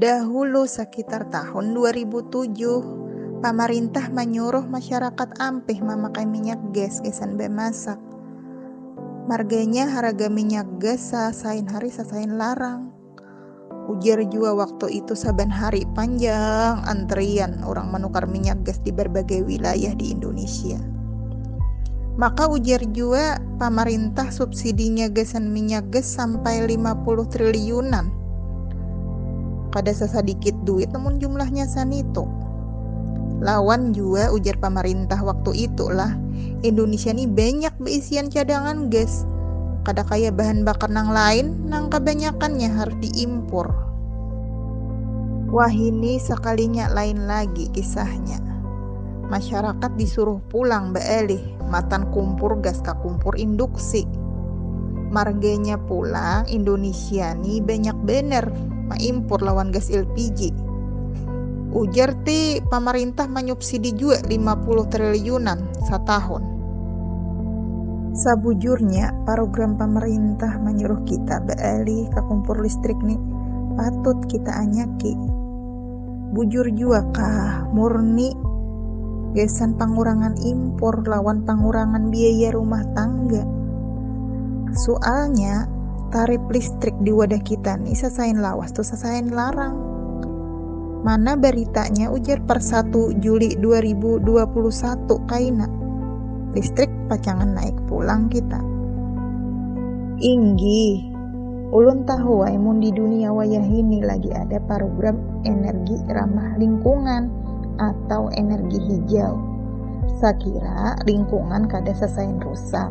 Dahulu sakitar tahun 2007, pamarintah manyuruh masyarakat ampih mamakai minyak gas gasan bamasak. Marganya haraga minyak gas sasain hari sasain larang. Ujar jua waktu itu saban hari panjang antrian orang menukar minyak gas di berbagai wilayah di Indonesia. Maka ujar jua pamarintah subsidinya gasan minyak gas sampai 50 triliunan. Kada sasadikit duit namun jumlahnya sanitu. Lawan jua ujar pamarintah waktu itu lah, Indonesia ni banyak beisian cadangan gas, kada kaya bahan bakar nang lain nang kabanyakannya harus diimpur. Wahini sakalinya lain lagi kisahnya. Masyarakat disuruh pulang baalih matan kumpur gas ka kumpur induksi. Marganya pulang Indonesia ni banyak banar maimpur lawan gas LPG. Ujar ti pamarintah manyubsidi. Sidi jua lima puluh triliunan satahun. Sabujurnya parugram pamarintah manyuruh kita ba'alih ka kumpur listrik ni patut kita anyaki. Bujur jua kah murni gasan pangurangan impur lawan pangurangan biaya rumah tangga. Sualnya tarip listrik di wadah kita ni sasain lawas tu sasain larang. Mana baritanya ujar per 1 Juli 2021 kaina. Listrik pacangan naik pulang kita. Inggih. Ulun tahuai mun di dunia wayahini lagi ada parugram energi ramah lingkungan atau energi hijau. Sakira lingkungan kada sasain rusak.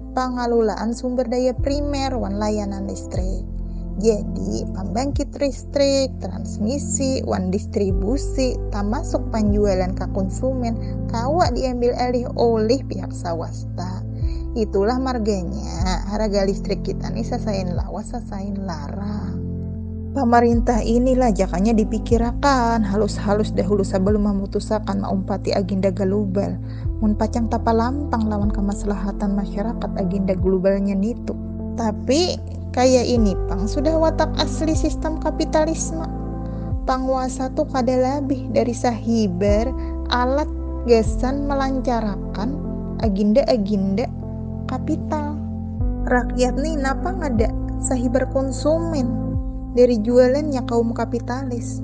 pangalulaan sumber daya primer wan layanan listrik. Jadi, pambangkit listrik, transmisi, wan distribusi, tamasuk panjualan ka konsumen, kawa diambil alih olih pihak sawasta. Itulah marganya, haraga listrik kita ni sasain lawas sasain larang. Pamarintah inilah jakanya dipikirakan halus-halus dahulu sabalum mamutusakan maumpati aginda galubal. Mun pacang tapalampang lawan kamaslahatan masyarakat agenda glubalnya nitu. Tapi, kaya ini pang sudah watak asli sistam kapitalisme. Panguasa tu kada labih dari sahibar alat gasan malancarakan agenda-agenda kapital. Rakyat ni napa ngada sahibar konsumen dari jualannya kaum kapitalis.